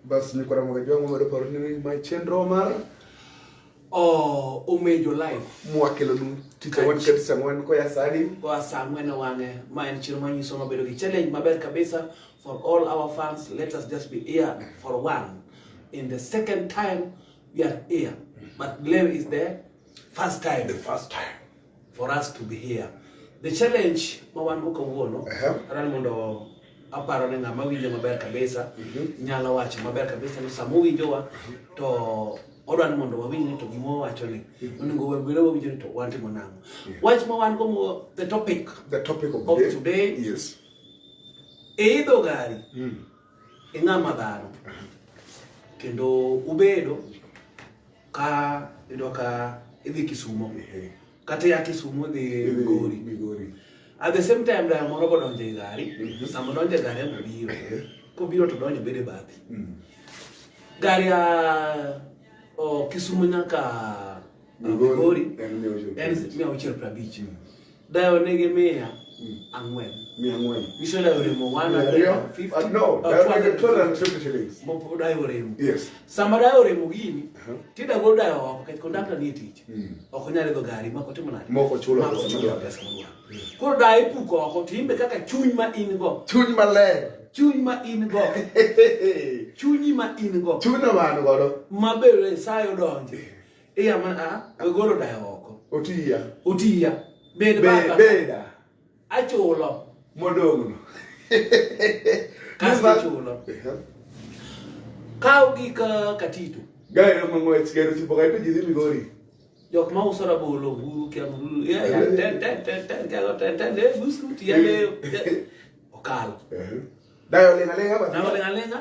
Bas ni kwa mga jwango mo daparo ni my chendro mar. Oh, umejo life. Mwakelo nu tich awan kati sa ngwen ko ya sani. Wa sa ngwen wange. Ma en chiro manyi soma bedo ki challenge maber kabisa for all our fans. Let us just be here for one. In the second time, we are here. But blame is the first time. The first time. for us to be here the challenge ma wan go kawuono uh -huh. aran mondo aparo ni ng'ama winjo maber kabisa mm -hmm. nyalo wacho maber kabisa ni sama owinjowa to odwa ni mondo wawinj ni to gima wawacho ni mhm. onego wabire wawinjo ni to watimo nang'o wach ma wan go the topic the topic of, of today, today yes. e idho gari mm. ing'ama dhano kendo ubedo ka iyudo ka idhi Kisumo kata ya Kisumo idhi Migori Migori at the same time dayo moro godonjo e gari mhm. sama donjo e gari ema biro kobiro to donjo bedo e bathi mm. gari ya Kisumo nyaka Migori en mia auchiel prabich mm. Dayo nigi mia hmm. ang'wen. Mia ang'wen. Nyiso dayo remo 150. Uh, no, uh, dayo nigi 250 shillings. Mopo dayo remo. Yes. Sama dayo remo gini, uh-huh. tida go dayo oko kech kondakta ni tich. Hmm. Ok onyal idho gari mako timo nade? Moko chulo pesa moro. Hmm. Koro dayo ipuko oko to imbe kaka chuny ma in go. Chuny maler. chuny ma in go chunyi ma in go chuny ma an godo maber nyasaye odonje Iya man a agolo dayo oko. Otiya. Otiya. Bed baka. Beda. Achulo. Modogno. Kasto chulo. Kaw gik katito. Gaero mang'wech gaero tipo kaito ji dhi Migori. Jok ma uso rabolo buru kia buru. Ya ya ten ten ten ten kelo ten ten le busu tiya le. Okalo. Dayo lenga lenga ba. Dayo lenga lenga.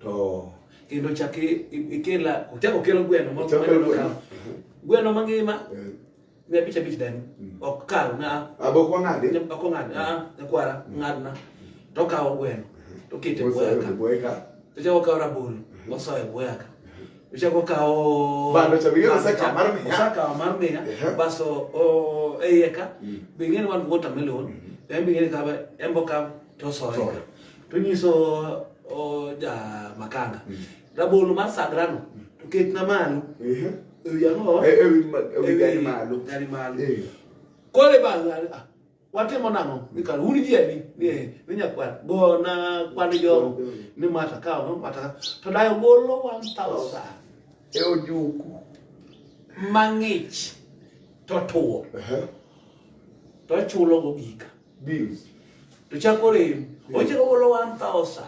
to kendo chak i- i- ikela ochak okelo gweno moro Ochak maneno okelo gweno. ka- gweno mangima Eh, mia abich abich dani Mm. ok kal na Abok wang'adi. ok ong'ad aa nyakwara ng'adna to okawo gweno to okete e bwoya ka Bweka. to chako okawo rabolo osoyo e bwoya ka to chako okawo Bando cha bing'e osekawo mar miya. osekawo mar miya Ehe. baso o- e iye ka Mm. bing'e ni wan gi watermelon to en bing'e ni kawe en bokawo to soyo to nyiso ja makanga mm. rabolo mar sagrano mm. to ket na malo e wi ango e wi e gari malo gari malo eh. kole ba ah, watimo nang'o mikano un jieni ni nyakwar gona kwan jogo ni mata kawo no mata to dayo golo 1000 e ojuku mang'ich to tuwo to chulo go gika bills to chako rem ochako golo 1000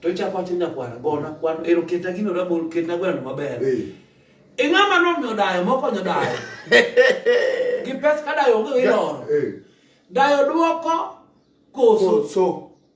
to chako wacho nyakwara gona kwano ero ketna gino rabol ketna gweno maber e ng'ama nomiyo dayo mokonyo dayo gi pes ka dayo onge iloro dayo dwoko koso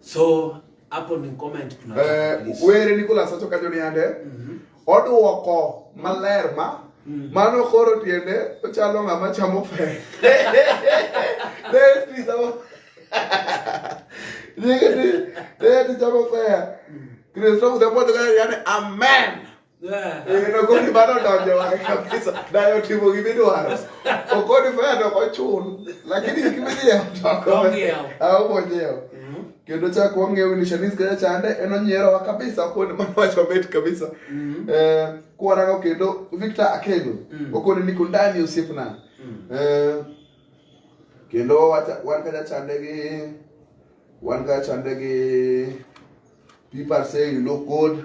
So hapo ni comment kuna eh, were Nicholas acho kajo ni ande mm -hmm. oduoko maler ma mm. mano koro tiende ochalo ng'ama chamo fe deti chamo deti chamo fe mm. Kristo kuda mwote kaya yani amen Nagoni eh, mano donjo wang'e kabisa. Dayo otimo gima idwaro. Okodifaya to ok ochul. Lakini gima idhiyawo to ok onyiew. Aomo onyiew. Mm-hmm. Kendo chak wang'eyo ni Shanice kaya chande en onyierowa kabisa okoni mano wacho mit kabisa. Mm-hmm. Eh, kwarango kendo Victor Akedo. Mm. Okoni niko ndani osiepna. Mm. Eh, kendo wan kaya chande gi wan kaya chande gi people say you look good.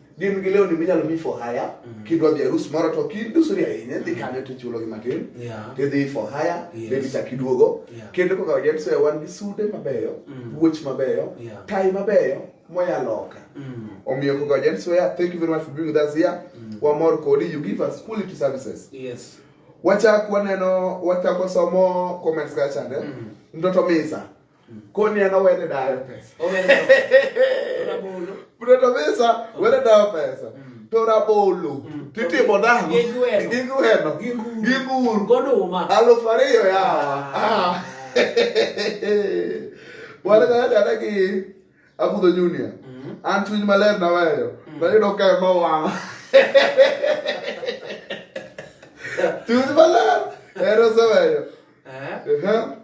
gin gi lewni minyalo mi for hire mm. kidwa dhi arus moro to kidusori ahinya dhi kanyo to ichulogi matin tidhi for hire then ichak iduogo kendo kaka wajens oya wan gi sude mabeyo mm. wuoch mabeyo tai mabeyo moya loka mm. omiyo kaka wajens oya thank you very much for being with us here wamor kodi you give us quality services yes wachak waneno wachako somo comments kachande mtoto misa koni an owene dayo pesa Bruno Mesa wene dayo pesa mm. to rabolo mm. titimo nang'o gigweno gibur goduma aluf ariyo yawa ah. wan gayadana gi abudho junior mm. an chuny maler naweyo nayudo ka ema wang' chuny maler ero oseweyo eh?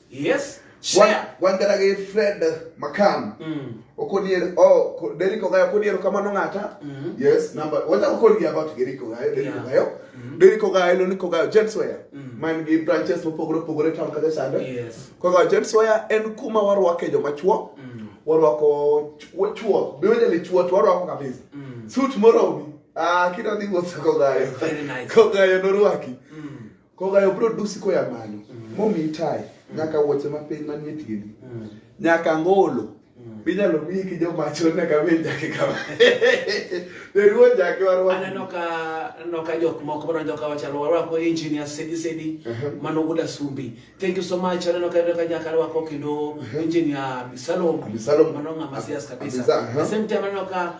Yes. Share. Wangara gi Fred Makam. Mm. Okonier oh ko, Deriko Gayo okonier kamano ng'ata. Mm. Yes, number. Wata okoni about Deriko Gayo, Deriko yeah. Gayo. Mm. Deriko Gayo lo niko Gayo James Waya. Mm. Man gi branches mopogore opogore town kata sande. Yes. Ko Gayo James Waya en kuma warwake joma chuo. Mm. Warwako chuo. Biwende ni chuo to warwako kabisa. Mm. Suit moro. Ah, kidwa dhi wuotho ko Gayo. Very nice. Ko Gayo norwaki. Mm. Kogayo bro dusi koya malo. Mm. Momi itai. Mm. Nyaka wuoche mapiny manie tiendi. Mm. Nyaka ngolo. Mm. Minyalo miyi ki joma chon nyaka miyi jake kama. Deruo jake warwa. Aneno ka aneno ka jok moko bro njoka wachalo warwa ko engineer sedi sedi uh -huh. mano guda sumbi. Thank you so much. Aneno ka ka nyaka warwa ko kendo uh -huh. engineer Bisalom. Bisalom. Mano ngama sias kabisa. Uh -huh. The same time aneno ka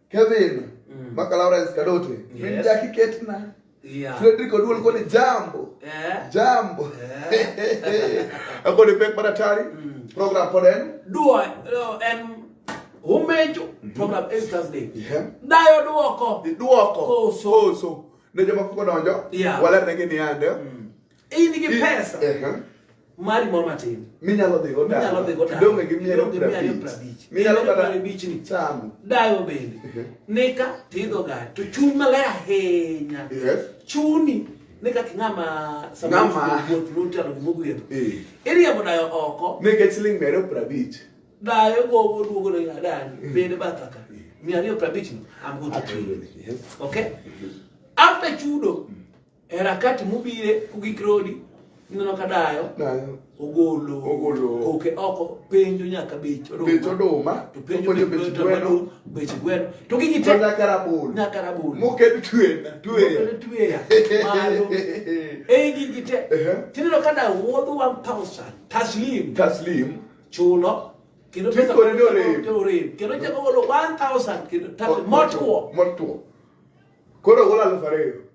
Kevin mm. maka Lawrence Kadote yes. min jaki ketna yeah. Frederick Oduol koni jambo yeah. jambo yeah. akoni pek madatari mm. program pod en dua no, en umecho mm -hmm. program every Thursday yeah. dayo duoko duoko koso koso ne jomoko kodonjo yeah. walernegi ni ande mm. in gi pesa mari moro matin minyalo dhi go minyalo dhi go donge gi miero prabich minyalo kata prabich ni chamo dayo bende nika tidho ga to chuny maler ahinya chuni ne kaka ng'ama samawuoth lutalo gimogwedho iriembo dayo oko nikech siling miero prabich dayo gogo duogo ne adani bende bathaka miariyo prabich no amgoto okay after chudo mm. E rakati mubire kugik rodi ineno ka dayo ogolo ogolo koke oko penjo nyaka bech oduma bech oduma to penjo bech gweno bech gweno to gigi te nyaka rabolo nyaka rabolo moket twe twe twe malo ei gigi te tineno ka dayo wuodho 1000 taslim taslim chulo kendo pesa kore ni orem to orem kendo chako golo 1000 kendo taslim motwo motwo koro golo aluf ariyo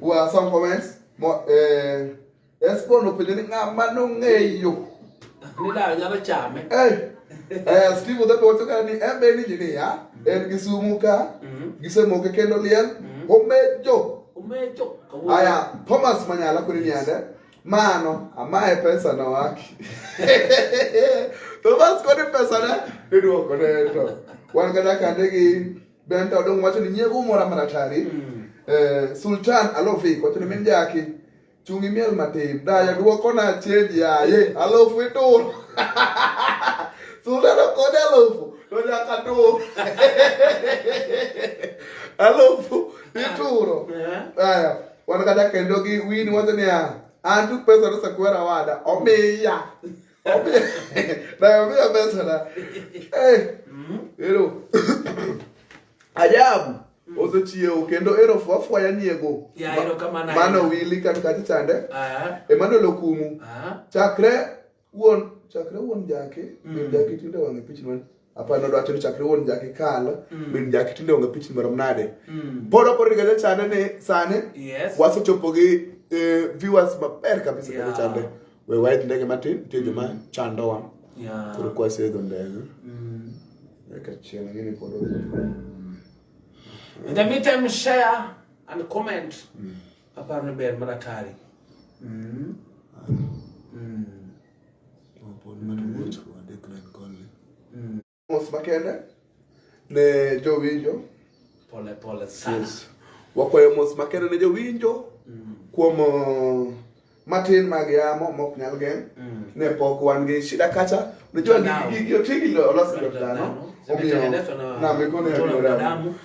Who are some comments? Mo- eh, Esbon opelele ngama nongeyo. Nilalo nyaba chame. Eh, eh, Steve odhi wacho ka ni en be en engineer, en gi sumu ka, Mhm. gisemoke kendo liel, Mhm. omejo. Umecho. kawuono. Aya, Thomas Manyala kuni niande, mano, amaye pesa na waki. Thomas kuni pesa na, iduoko ne to. Wan kata kande gi Ben to dong wacho ni nyego mora maratari. Mm. Eh, Sultan Alofi wacho ni min jaki. Chungi miel matin. Daya duoko na cheji aye. Alofu itur. Sultan okode alofu. To nyaka tur. Alofu ituro. Aya. Wan kata kendo gi wini wacho ni ya. Antu pesa to sakwera wada. Omiya. naambia pesa na eh mm-hmm. ero ajabu mm. ozo chiewo kendo ero fwafwaya niego mano wili kan kati chande ah. emano lokumu ah. chakre wuon chakre wuon jake mm. jake tinde wang'e pichni apa nodo wacho ni chakre wuon jaki kal mm. min jaki tinde onge pichni marom nade mm. pod ok origa jachane ni sani yes. wasechopo gi eh, viewers maber kabisa yeah. jachande we waith ndege matin nitie joma mm. chandowa yeah. koro kwaseidho ndege mm. eka chieng' gini pod in the meantime share and comment mm. aparo ni ber maratari mm. mm. mos makende ne jowinjo pole pole sana yes. wakwayo mos makende ne jowinjo mm. kuom uh, matin mag yamo mok nyal geng' mm. ne pok wan gi shida kacha unajua gigi otigi losi dhano omiyo na mikono ya binadamu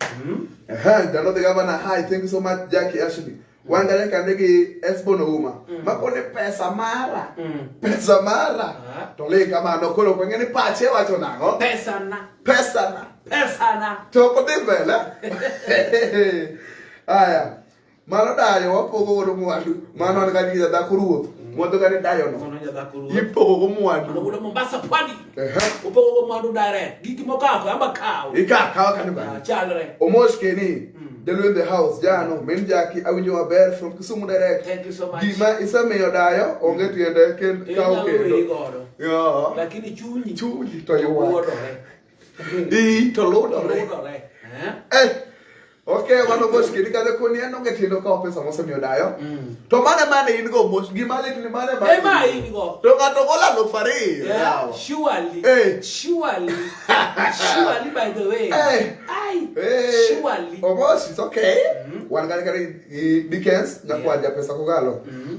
Mm. Aha, jalo the governor. Hi, thank you so much Jackie Ashley. Wangale kande gi Esbon Ouma. Mm. Makone pesa mara. Mm. Pesa mara. Ah. To le kama no kolo kwa ngene pache wacho nango. Pesa na. Pesa na. Pesa na. To ko dibela. Aya. Mano dayo wapogo godo mwandu. Mano an kani ja dhako ruoth. Mm. Mwandu kani dayo no. Mano ja dhako ruoth. Ipogo go mwandu. Mano gudo Mombasa pwani. Ehe. Upogo go mwandu dare. Gigi mokako amba kawo. Ika kawo kani bani. Ah, chalre. Omosh keni. Mm. Delu in the house jano min jaki awinjo maber from Kisumu direct. Thank you so much. Gima isemiyo dayo onge tiende ken kawo kendo. Lakini chunyi. Chunyi to yuwa. Ii, to ludore. Ludore. Eh? Eh, okay, wan omos kidi kadho koni an onge tindo kawo pesa mosemiyo dayo. Mm. To mane mane in go mos gima lit ni mane mane. Eh, ma in go. To ng'ato gola aluf ariyo. Yeah, yawa. surely. Eh. Surely. Surely, by the way. Eh. Ai. Eh, Surely. Omos, it's okay. Wan kare kare i Dickens, nyakwanja pesa kogalo. Mm.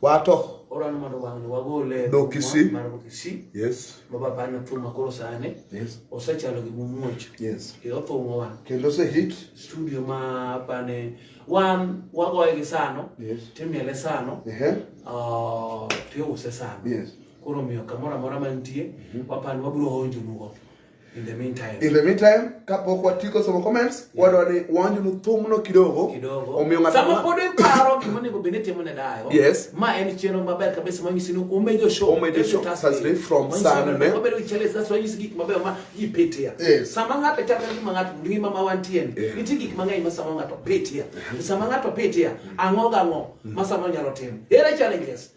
Wato. Oran mondo wang'ni wagole no Kisii. Mar Kisii. Yes. Ma baba na tuo makoro sani. Yes. Osechalo gi muoch. Yes. E othung'o wa. Kendo se hit. Studio ma apane wan wagoye gi sano. Yes. Timiele sano. Ehe. Uh, tiuse sano. Yes. Koro miyo kamoro amora mantie. Mm -hmm. Wapani wabiro onjo nugo. In the meantime, in the meantime kapok watieko somo comments yeah. wadwa ni wanjnu thumno kidogo kidogo omiyo ng'ato sama pod iparo gima onego bed ni timo ne dayo yes ma en chenro maber kabisa ma nyisi ni umejo show umejo show Thursday from Sunday wabedo chale sasa wanyisi gik maber ma ipetia yes. sama ng'ato chako gima ng'ato ngima ma wantie ni yeah. nitie gik mang'eny ma sama ng'ato petia uh-huh. sama ng'ato petia ang'o gang'o mm. ma sama nyalo timo ere challenges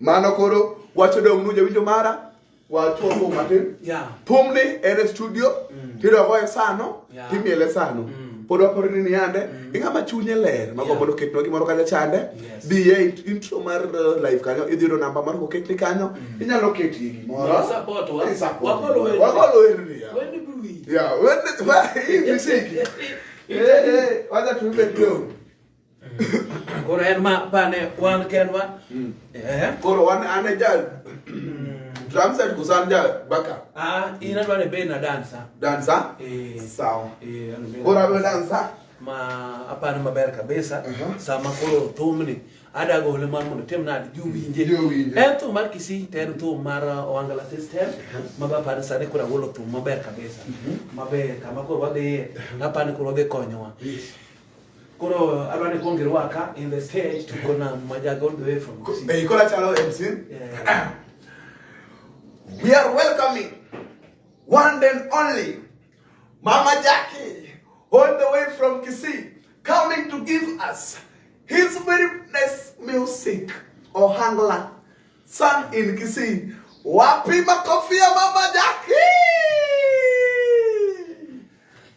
Mano koro wacho dong' nu jawinjo mara wachuo thum matin. Yeah. Thumni en e studio mm. tidogo e sano yeah. timiele sano mm. pod wakoro ni niyande mm. ing'ama chunye ler mago yeah. mondo oketnwa gimoro kanyo chande yes. dhi e intro mar uh, live kanyo idhi yudo namba mar koketni kanyo mm. inyalo ketie gimoro wakolo werni ya werni wacha tuibe kidogo koro en ma pane wan kendwa Eh, Koro wan an e ja drum set koso an ja backup ah, in adwa ni bed na dansa dancer? Eh, Sawa. eh, an bed- Koro abiro dancer. ma apani maber kabisa Aha. sama koro thumni ada gole mar mondo tim nade jowinje Jowinje. en thum mar kisi to en thum mar uh, owangala system ma be apani sani koro agolo thum maber kabisa maber kama koro wadhiye apani koro wadhi konyowa Koro adwa ni kuong irwaka in the stage to go na majaga all the way from Kisii. Hey, Kola Chalo MC. Yeah. We are welcoming one and only Mama Jackie, all the way from Kisii, coming to give us his very nice music, Ohangla, sung in Kisii. Wapi makofi ya Mama Jackie?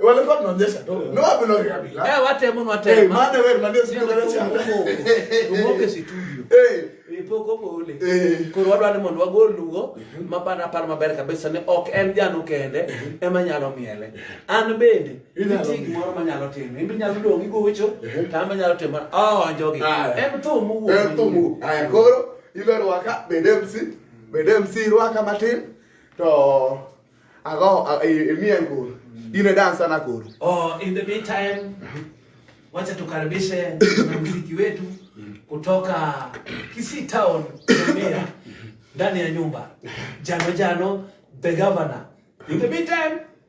walikuwa tunaonyesha tu no bila kabila eh wate mno wate eh maana wewe mnandio sio kama cha umoke situdio eh ipoko bole koro wadwa ni mondo wagol lugo mapana par maber kabisa ni ok en janu kende ema nyalo miele an bende Nitie gimoro ma nyalo timo. Imbe nyalo dong' igocho, to an be nyalo timo. Oh, anjogi. En tho mowuok. En tho mowuok. Aya koro, ibe rwaka, bende MC, bende MC rwaka matin, to ago, imiye nguru. In a dancer na koro. Oh, in the meantime, wacha tukaribishe muziki wetu kutoka Kisii Town, Tanzania, ndani ya nyumba. Jano Jano, the governor. In the meantime,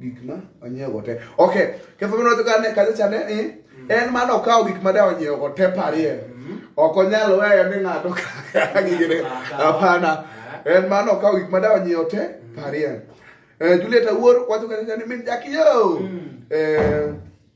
gik ma onyiewogo te okay ketho mane odhi kane kacha cha ne eh, en mane okawo gik ma de onyiewogo te parie ok onyal weyo ni ng'ato kaka gigene hapana en mane okawo gik ma de onyiewo te parie Eh, Juliet Awuor wacho kacha cha ni min jakiyo Eh,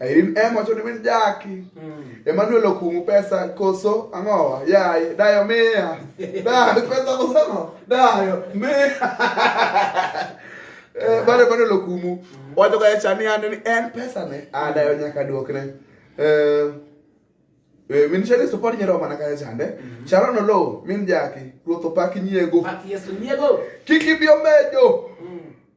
Irene M wacho ni min jaki. Mm. Emmanuel Okumu pesa koso ang'owa yaye dayo miya. Dayo pesa koso ang'o? Dayo miya. Eh bale Emmanuel Okumu mm. wacho ga chani ande ni en pesa ne a ah, dayo nyaka duokne. Eh Eh, min shari support nyero mana kaya chande. Mm -hmm. Charo no lo, min jaki, ruoto paki nyiego. Paki yesu nyiego. Kiki bio mejo. Mm.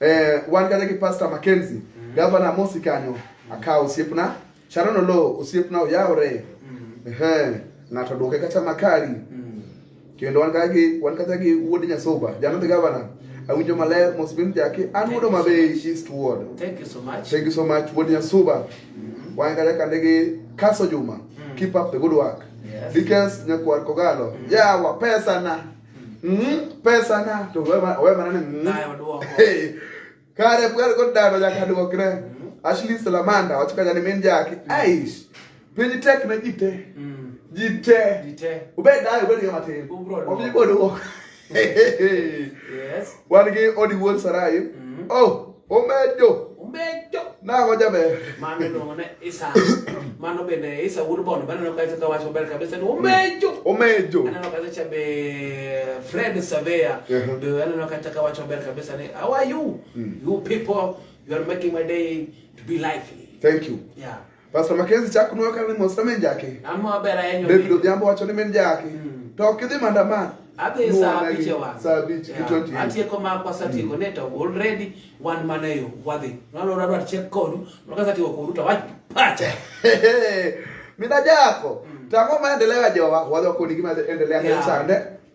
eh wan kata gi pastor Mackenzie mm -hmm. governor Mosi kanyo mm. akawo osiepna Sharon Oloo osiepna oyawre mm. ehe ng'ato duoke kata makari mm. kendo wan kata gi wan kata gi wuod Nyasuba jana the governor mm. awinjo maler mos bin jaki an wuod Homa Bay East Ward thank you so much thank you so much wuod Nyasuba mm -hmm. wan kata kande gi Kaso Juma mm. keep up the good work yes. because nyakwar kogalo mm. yawa pesa na Mm, pesa na to we ma we mana ni. Nayo duoko. Kare pwar ko dano ja kadwokre. Mm. Ashley Salamanda wachika jani min jaki. Mm. Aish. Piny tek na jite. Mm. Jite. Jite. Ubed dai ubed ga matin. Ubro. Obi bodo. Yes. Wan gi odi wuon Sarai. Mm. Oh. Omejo. Omejo. Nang'o jaber. Mano iluongo ne Isa. Mano bende Isa wuod Bondo bende aneno kacha kawacho maber kabisa ni omejo. Omejo. Aneno kacha be Fred Savea. Be aneno kacha kawacho maber kabisa ni how are you? Mm. You people, you are making my day to be lively. Thank you. Yeah. Pastor Mackenzie chako nwa kane mos na min jaki. Amo aber ayenyo. David Odhiambo wacho ni min jaki. Hmm. To ok idhi maandamano. Adhi saa abich e wang'. Saa abich gi twenty. Atieko makwa satieko ne to already wan mana e yo wadhi. Nalo rado achiek kodu. Maka satieko kodu to wach pacha. Mina jako. Hmm. Tang'o maendeleo ya jowa wadhi wakoni gima endelea yeah. sande.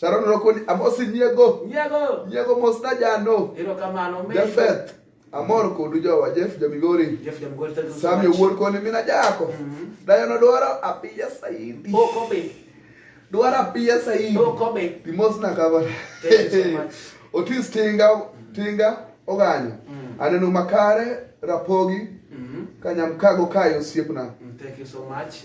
Sharon Rokoni, amosi nyiego. Nyiego. Nyiego mos na jano. Ero kamano me. Jafeth. Amor kodu jowa Jeff Jamigori. Jeff Jamigori thank you so much. Sami wuon koni mina jako. Mm-hmm. Dayo no dwaro apiya saidi. Oh kobe. Dwaro apiya saidi. Oh kobe. Dimos na kaba. Thank you so much. Otis tinga tinga oganya. Mm. Aneno makare rapogi. Mm-hmm. Kanyam kago kayo siepna. Mm, thank you so much.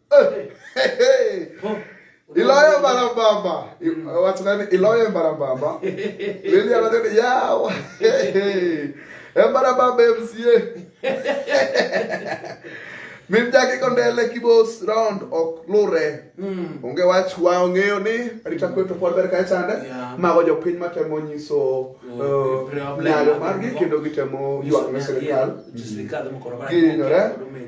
Eh, hey, hey. Oh. Iloyo barabamba. Mm. Watu gani? Iloyo barabamba. Lili anataka yao. Barabamba MCA. Mimjaki kondele kibos round ok lure. Mm. Onge wach wa ong'eyo ni arita kwe to pod ber kae chande. Mago jopiny matemo nyiso oh, uh, nyalo margi kendo gitemo ywak ne sirikal. Ginyore.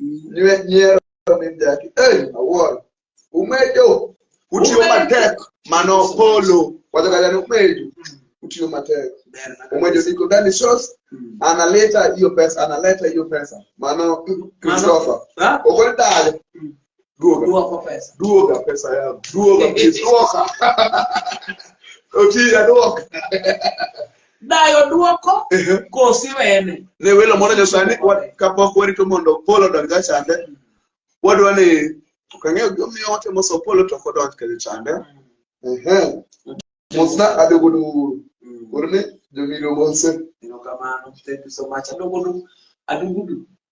Nyiero min daki. Hey, awuoro. Umedo. Utiyo matek mano polo. Wacho kata ni umedo. Utiyo matek. Umedo niko ndani shows. Analeta hiyo pesa, analeta hiyo pesa. Mano Christopher. Ha? Okole dale. Duoga. Duoko pesa. Duoga pesa yangu. Duoga please. Duoga. Oti aduoga. dayo duoko Ehe. kosi wene ne welo moro nyasaye ni wa- kapok warito mondo polo odonj ka chande wadwa ni ok ang'eyo gimomiyo watemo so polo to ok odonj ka chande Ehe. mosna adogodo uru uru ni jomiluongo ose erokamano thank you so much adogodu adugudu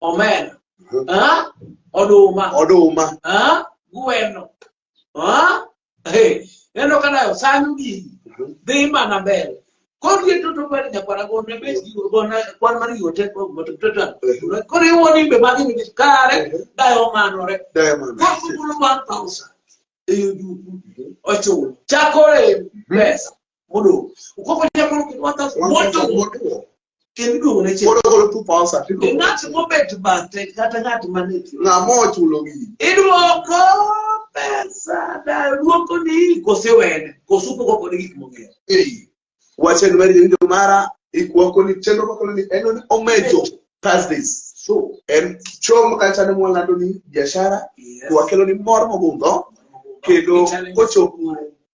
omena ah, oduma oduma ah, gweno ah, hey, neno ka nayo sanyo gigi dhi mana mbele koro ye toto bani nyakwara gona bes gigo gona kwan mar gigo tek ma moto toto koro iwo nimbe magi ni kare dayo manore diamond koro kukulo 1000 eyo duku ochulo chakore pesa modong ukoko chakore 1000 moto motuo kendo iduogo ne chieng' kodogolo two pounds at iduogo ng'at mobet bathe kata ng'at mane ti ng'ama ochulo gigi iduoko pesa da duoko ni kose wene kose upogo kode gik mong'eyo ei wache ni mari jawinjo mara ikwako ni chenro makolo ni en ni omejo thursdays so en chom kacha ne mwalando ni biashara yes. wakelo ni mor mogundho kendo kochopo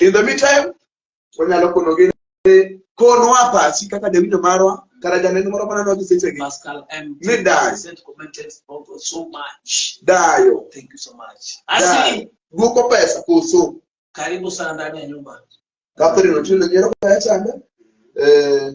in the meantime wanyalo konogi ni konwa pachi kaka jawinjo marwa kata janeno moro manano gi sechegi Pascal M. Ni dayo. Sent commented also so much. dayo Thank you so much. dayo Asi, dwoko pesa koso karibu sana ndani ya nyumba. Catherine Otieno nyiero kaya chande eh,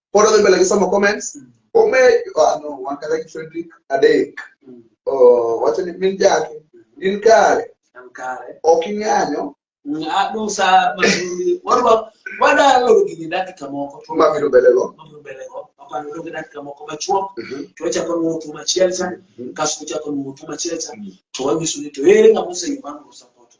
pod odhi mbele gi somo comments ome ah, no wan kata gi Frederick adek Mm. Oh, wacho ni min jaki in kare An kare. ok ing'anyo Mm, Adu sa mabiro. Warwa wada loro gini dakika moko. to- ma biro mbele go Mabiro mbele go. Aparo loro gini dakika moko machuok. To wachako luwo thum achiel cha. Kasto wachako luwo thum achiel cha. To wanyiso ni to ere ng'ama oseyudo mano osapoto.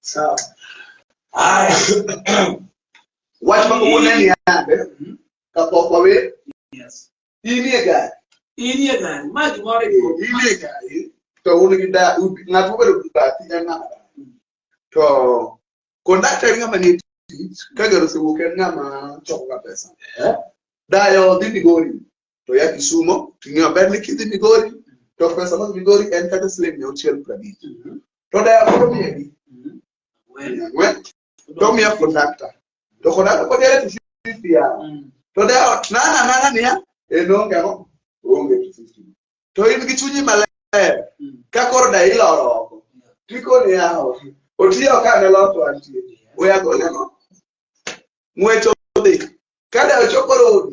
Sawa. Haya. Watu wako kuona ni yande. Mhm. Kapo kwa we. Yes. Hii ni gari. Irie gari, maji moro Hii ipo. ni gari. To un gi da ng'ato bedo gi bati en ng'ama da. To kondakta en ng'ama nie tich ka gari osewuok en ng'ama choko ga pesa. Eh? Dayo dhi Migori. to ya Kisumo to ing'eyo maber ni kidhi Migori to pesa mag Migori en kata siling' mia auchiel prabich to daya koro miyagi ang'wen to miya kondakta to kondakta kod yare to fifty ya to daya ot nana nana niya en onge ang'o onge to fifty to in gi chunyi maler ka koro daya iloro oko tikoni yawo otiyo ka ne loto antie oyagoleno ng'wech odhi ka daya ochokoro odi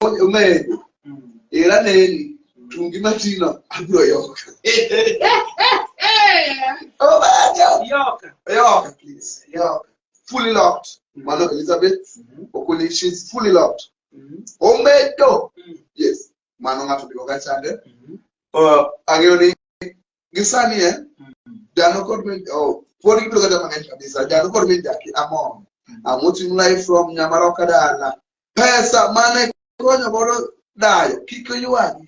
omedo era neni tungi matino abiro yoka obaja yoka yoka please yoka fully locked mano elizabeth okuni she's fully locked omedo yes mano ng'ato ndiko kachande ang'eyo ni gi sani eh, dhano kod min oh, pod gibiro kata mang'eny kabisa dhano kod min jaki amon amuting live from nyamaroka dala pesa mane konyo godo dayo kik oywagi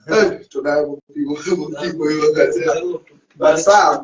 Eh, to dayo motigo motigo yo gazeti but sam